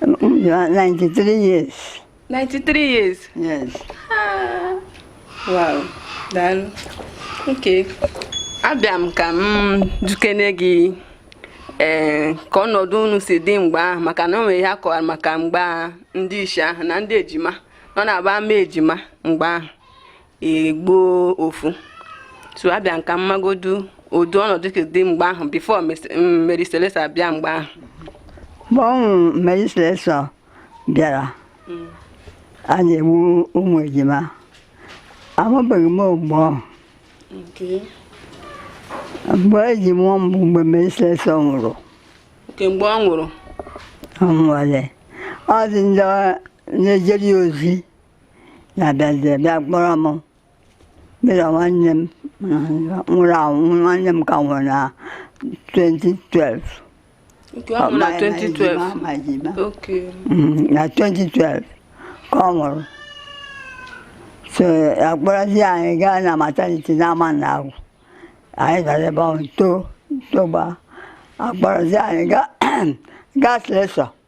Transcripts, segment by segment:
93 years. 93 years? Yes. Ah. Wow, daalụ. Okay. Abịa m ka m jụkene gị ee eh, ka ọnọdụ unu si dị mgbe ahụ maka na o nwere ihe a kọwara maka mgbe ndị isi ahụ na ndị ejima nọ na-aba amụ ejima mgbe ahụ egbuo ofu so abịa m ka m magodu ụdị ọnọdụ ka dị mgbe ahụ before Mary Slessor abịa mgbe ahụ mgbe ọ wụ Mary Slessor bịara a na-egbu ụmụ ejima amụbeghị m mgbe ọhụ mgbe e ji mụọ m bụ mgbe Mary Slessor nwụrụ mgbe ọ nwụrụ ọ nwụọle ọ dị ndị na-ejere ya ozi na-abịazie bịa kpọrọ m mụ na nwanne m nwụrụ anwụ nwanne m ka nwụrụ na 2012 Nke ọ bụ na 2012. ma ejima Okay. Mm, na 2012 ka ọ nwụrụ so akpọrọzi anyị gaa na maternity na Amanagwu anyị gara ebe ahụ too togba akpọrọzi anyị gaa gaa Slessor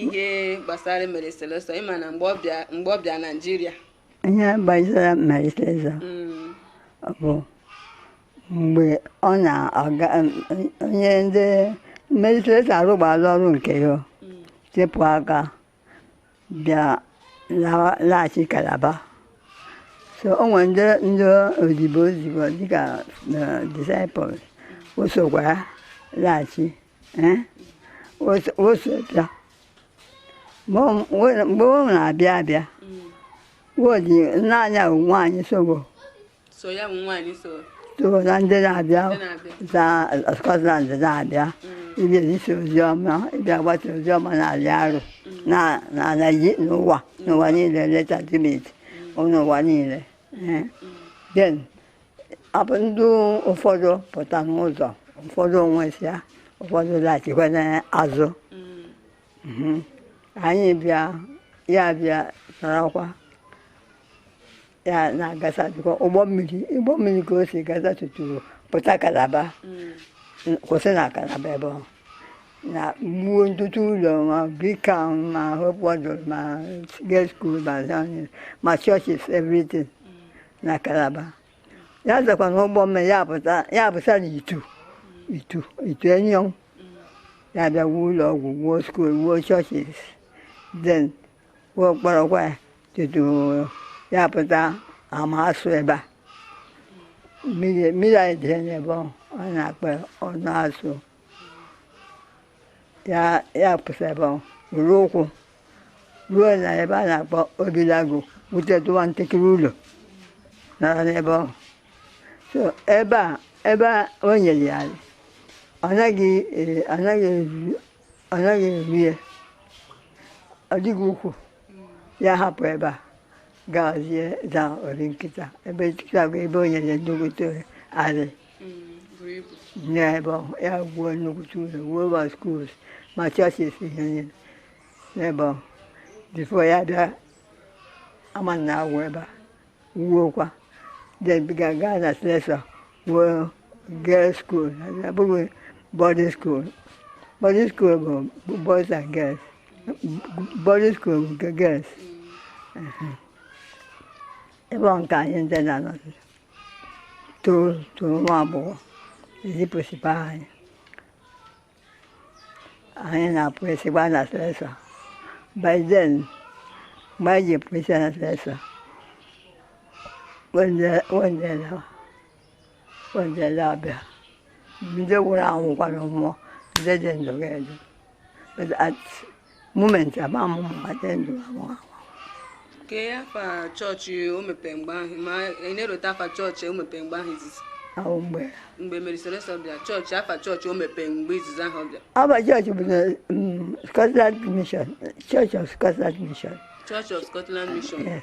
ihe gbasara Mary Slessor ị ma na mgbe ọ bịa Nigeria ihe gbasara Mary Slessor mm. bụ mgbe ọ na-aga onye ndị Mary Slessor arụgbala ọrụ nke ya mm. sepụ aka bịa laghachi Calabar so o nwere ndị ndị odibo odibo dịka disciples o sokwa ya laghachi Eh? o so bịa mgbe ọ na-abịa abịa wodi naanị ya nwaanyị sobo so na ndị na-abịa za Scotland na-abịa mm. ịbịa izi ozi ọma ịbịa gbata ozi ọma n'ala Arọ mm. n'ụwa n'ụwa niile leta timit mm. n'ụwa niile eh? then ọ bụ ndị ụfọdụ pụta n'ụzọ ụfọdụ anwụsịa ụfọdụ laghachikwa n'azụ Mhm. anyị bịa ya bịa sarakwa ya na-agasa dịkwa ụgbọ mmiri ụgbọ mmiri ka o si gasa tutu pụta Calabar kwụsị na Calabar ebe ọ nọ wuo ntụtụ ụlọ ma Creek Town ma Hope Waddell ma girls school ma zoning, ma churches everything na Calabar ya zakwa na ụgbọ mmiri ya pụta ya pụta na Itu Itu Itu Enyong ya bịa wuo ụlọ ọgwụ wuo school wuo churches then wuo kpọrọkwa ya tutu ya pụta Amasu ebe a mmiri mmiri anyị dịrị n'ebe ọ a na-akpọ Ọnụ Asu ya ya pụsị ebe ahụ ruru ụkwụ ruo na ebe a na-akpọ obilago wutetụwa ntakịrị ụlọ nara n'ebe ahụ so ebe a ebe a o nyere ya ala, ọ naghị e- ọ naghị eru- ọ naghị eru ya ọ dịghị ukwu ya hapụ ebe a gazie za Obinkịta Obinkịta bụ ebe o nyere nnukwute arị n'ebe ahụ ya wuo nnukwute ụlọ wuo ma schools ma churches ihe niile n'ebe ahụ before ya bịa Amanagwụ ebe a wuokwa then bịa gaa na Slessor wuo girls school abụghị boarding school boarding school bụ boys and girls boarding school bụ nke girls ebe ahụ nke anyị ndị na-anọzi toro nwa agbọghọ ezipụsịba anyị anyị na-apụ esi gbaa na Slessor by then mgbe anyị ji pụsịa na Slessor wendele abịa ndị nwụrụ anwụ ga-ana mmụọ ndị dị ndụ ga-adị moment ama m ma dị ndụ anwụ anwụ ke afa chọọchị o mepee mgbe ahụ ma ị na-erota afa chọọchị o mepee mgbe ahụ izizi ahụ mgbe mgbe Mary Slessor bịa chọọchị afa chọọchị o mepee mgbe izizi ahụ bịa afa chọọchị bụ na mm, Scotland Mission Church of Scotland Mission Church of Scotland Mission yes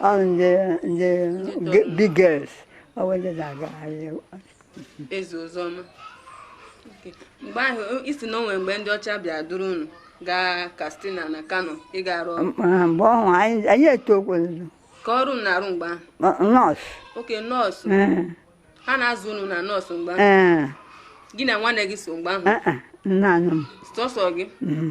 ọ ndị ndị ge- big girls ọ bụ ndị na-agagharị ezi ozi ọma Okay. mgbe ahụ o- ị sị na o nwe mgbe ndị ọcha bịa duru unu gaa Katsina na Kano ịga arụ ọrụ Ma mgbe ọhụ anyị anyị etokwuzo kee ọrụ unu na-arụ mgbe ahụ nurse okay nurse ee ha na-azụ unu na nurse mgbe ahụ ee gị na nwanne gị so mgbe ahụ ee, naanị m sọsọ gị Mhm.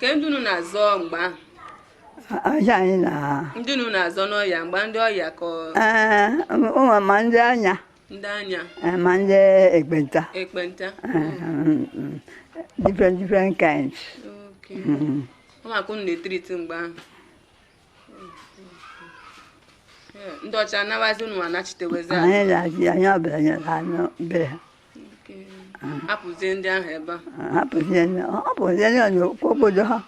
Kee ndị unu na-azọ mgbe ahụ? Ọya anyị na. Ndị unu na-azọ n'ọya mgbe ndị ọya ka. Ee, ụmụ ma ndị anya. Ndị anya. Ma ndị ekpenta. Ekpenta. Different different kinds. Okay. Ụmụaka unu na-etreat mgbe ahụ. ndị ọcha anabazi unu anachitewezi anyị na-achị onye ọbụla nyere anyị be ha hapụzie ndị ahụ ebe a hapụzie ndị ọ bụzie ndị onye okwu obodo ha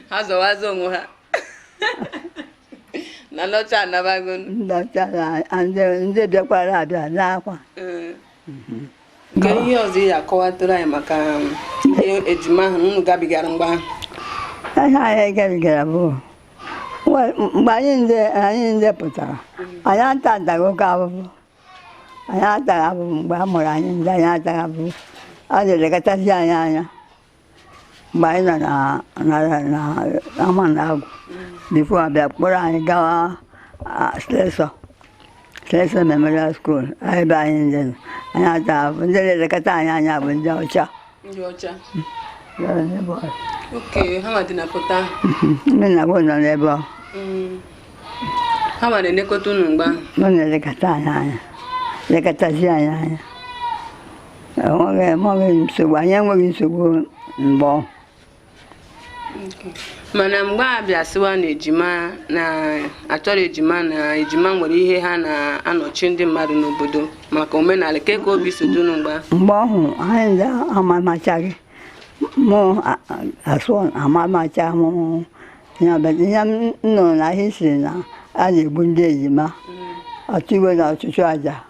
ha zọwazi onwe ha na ndị ọcha anabago ndị ọcha ndị bịakwara abịa n'akwa nke ihe ọzọ ị ya-akọwatụrụ anyị maka um, ihe ejima ahụ unu gabigara mgbe ahụ ihe anyị gabigara bụ mgbe anyị ndị pụtara anyị ata ataghị oke avụvụ anyị ataghị avụvụ mgbe a mụrụ anyị ndị anyị ataghị avụvụ a na-elekọtazi anyị anya mgbe anyị nọ na- na- na- n'Amanagwụ bifo a bịa kpọrọ anyị gawa Slessor Slessor Memorial School ebe anyị ndị nọ. anyị ata bụ ndị na-elekọta anyị anya bụ ndị ọcha ndị ọcha Ndị ndị bụ ọcha. okay ha ma dị na pụta ndị na bụ nọ n'ebe ọ ha ma na-elekọta unu mgbe ahụ nọ na-elekọta anyị anya lekọtazi anyị anya enweghị enweghị nsogbu anyị enweghị nsogbu mgbe ọhụ mana mgbe a bịa sịwa na ejima na achọrọ ejima na ejima nwere ihe ha na-anọchi ndị mmadụ n'obodo maka omenala kee ka obi si dị unu mgbe ahụ mgbe ọhụ anyị ndị amamachaghị mụ a- a- asụ amamacha mụ ihe ọbụla. ihe m nụrụ na history na a na-egbu ndị ejima ọtụ iwe na ọchụchụ aja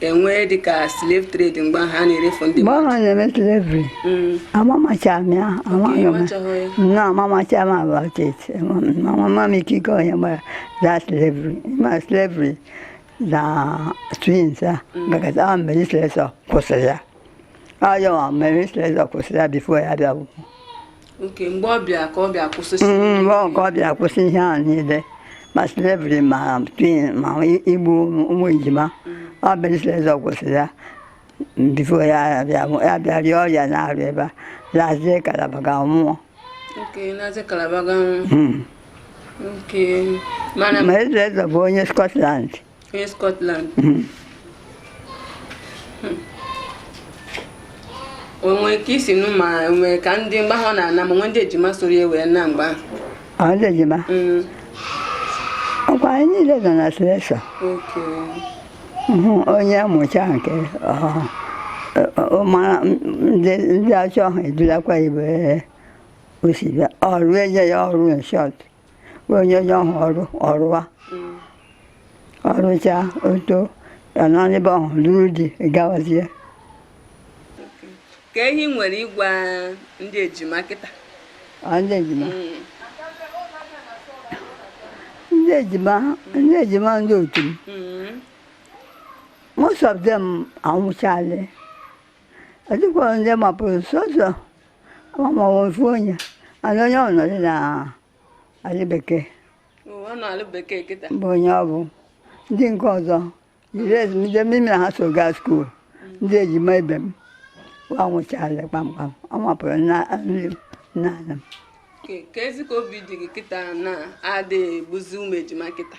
enwee dịka slave trade mgbe ahụ a na-erefu ndị mgbe ahụ a na-eme slavery mm. amamacha m ya nna amamacha m about it mama m ike ike onye gbara za slavery ma slavery na twins a gagazi ahụ Mary Slessor kwụsịrị ya ayọwa Mary Slessor kwụsịrị ya bifo ya abịa nwụọ okay mgbe ọ bịa ka ọ bịa kwụsịsị Mm, mgbe ọhụ ka ọ bịara kwụsị ihe a niile ma slavery ma twin ma igbu ụmụ ụmụ ejima ọ Mary Slessor kwụsịrị ya bifo ya abịa nwụ- ya bịa rịa ọrịa n'Arụ ebe a lazie Calabar ga nwụọ okay lazie Calabar ga nwụọ Mm. okay mana Mary Slessor bụ onye Scotland onye Scotland hmm. Hmm. o nwee ka i si nụ ma o nwee ka ndị mgbe ahụ ọ na-ana ma o nwee ndị ejima soro ya wee naa mgbe ahụ ndị ejima hmm. ọkwa anyị niile nọ na Slessor onye mụcha nke mara ndị ọcha ahụ edulakwa ibe o si bịa ọrụ e nye ya ọrụ in short onye onye ọ hụ ọrụ ọ rụwa ọ rụcha o too ya anọ n'ibe ọhụ lụrụ di gawazie kee ihe ị nwere ịgwa ndị ejima kịta ọ ndị ejima ndị ejima ndị ejima ndị otu m Mm. most of them anwụchaala ọ dịkwa ndị mapụrụ sọsọ amaghị ofu onye mana onye ọ nọdụ na alị bekee Ọ nọ alị bekee kịta. bụ onye ọ bụ ndị nke ọzọ jiri ezumike mụ na ha so gaa skuul ndị ejima ibe m wa anwụchaala kpamkpam ewepụrụ naanị m na ala m Ke- Kezi ka obi dị gị kịta na adịghị egbuzi ụmụ ejima kịta.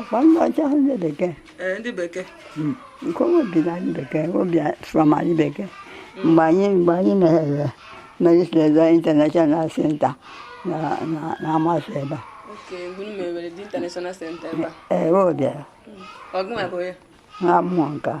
ọkwa ndị ọcha ndị bekee ee ndị bekee hmm. nke o bi na alị bekee o bi from alị bekee hmm. mgbe anyị mgbe anyị meghere Mary Slessor International Center na Amasiri ebe a ee o bịara ọ gụnwa bụ ya nwa mmụọ nke a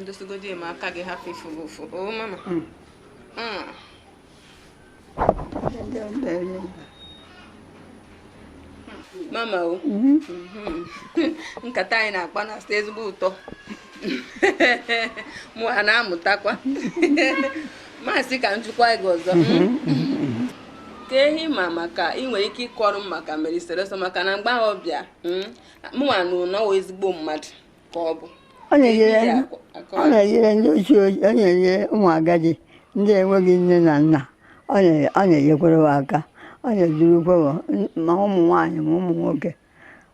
ndozigodi ma aka gị hapụ ifu gị ụfụ o mama hmm. Hmm. mama o mm-hmm. mm-hmm. nkata anyị na-akpa na-atọ ezigbo ụtọ mụwa na-amụtakwa m sị ka m jụkwaa gị ọzọ ke ihe ị ma maka ị nwere ike ịkọrọ m maka Mary Slessor maka na mgbe ahụ ọ bịa hmm, mụnwa nụ na ezigbo mmadụ ka ọ bụ ọ na-enyere ndị ochie ọ na-enyere ụmụ agadi ndị enweghị nne na nna ọ na-enyekwara ha aka ọ na-edurukwa ma ụmụ nwaanyị ma ụmụ nwoke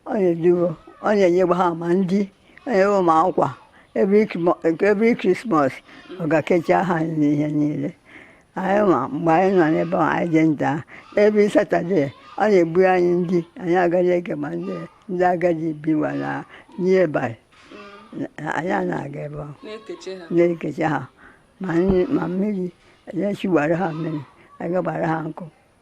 ọ na-eduru ọ na-enyegba ha ma ndị enyewo ma akwa every Christmas ọ ga-ekecha ha ihe niile anyị ma mgbe anyị nọ n'ebe ahụ anyị dị nta every Saturday ọ na-ebu anyị ndị anyị aga dịka ma ndị ndị agadi biwa na nearby anyị na-aga ebe ahụ na-ekecha ha ma mmiri na-echigbara ha mmiri agagbara ha nkụ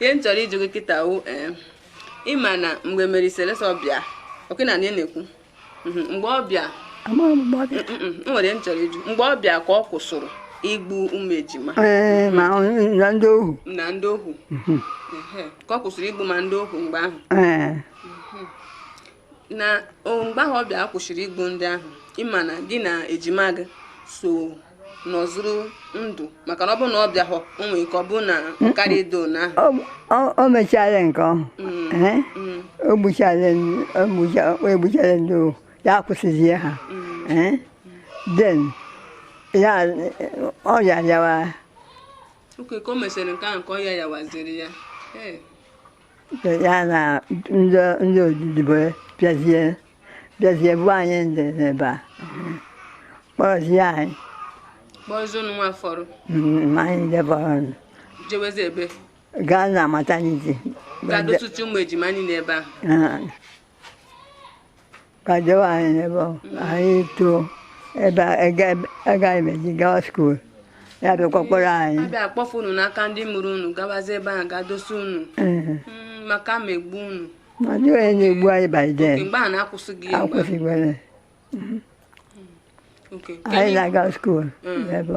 ihe m chọrọ ịjụ gị kịta wụ eh, ịma na mgbe Mary Slessor ọ bịa oke na na na-ekwu mhm, mgbe ọ bịa m nwere ihe m chọrọ ịjụ mgbe ọ bịa ka ọ kwụsịrị igbu ụmụ ejima eh, na ndị ohu na ndị ohu mhm. ka ọ kwụsịrị igbu ma ndị ohu mgbe ahụ eh. na mgbe ahụ ọ bịara kwụsịrị igbu ndị ahụ ịma na gị na ejima gị so nọzuru ndụ maka na ọ bụrụ na ọ bịahụ o nwere ike ọ bụrụ na karịa edo na o mechara nke ahụ o gbuchara ndị ohu ya akwụsịzie ha then ya ọya yawa okay ka o mesịrị nke ahụ ka ọya yawaziri ya ya na ndị odibo bịazie bịazie bu anyị ndị n'ebe a kpọrọzie anyị kpọrọzie unuwa fọrọ mm, anyị ndị fọrọ jewezi ebe gaa na maternity ga-edo ọtụtụ ụmụ ejima anyị n'ebe ahụ Ka dowe anyị n'ebe ọ anyị too ebe agaghị m eji gawa skuul ya bịakwa kpọrọ anyị a bịa kpọfụ unu n'aka ndị mụrụ unu gabazi ebe ahụ ga dosa unu mm, maka ma egbu unu ma ndị onye na-egbu anyị by then mgbe a na-akwụsịghị ya akwụsịgwere mm-hmm. anyị na-aga skuul n'ebe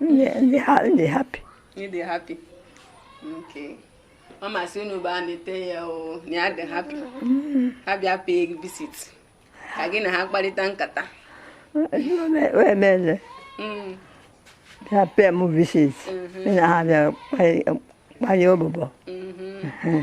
m dị ha m dị happy m dị happy okay mama sị unu bịa neta ya o na ya dị happy mm-hmm. ha bịa pay gị visit ka gị na ha kparịta nkata wee meze mm. bịa pay m visit mm-hmm. na ha bịa kparị ụbụbọ mm-hmm.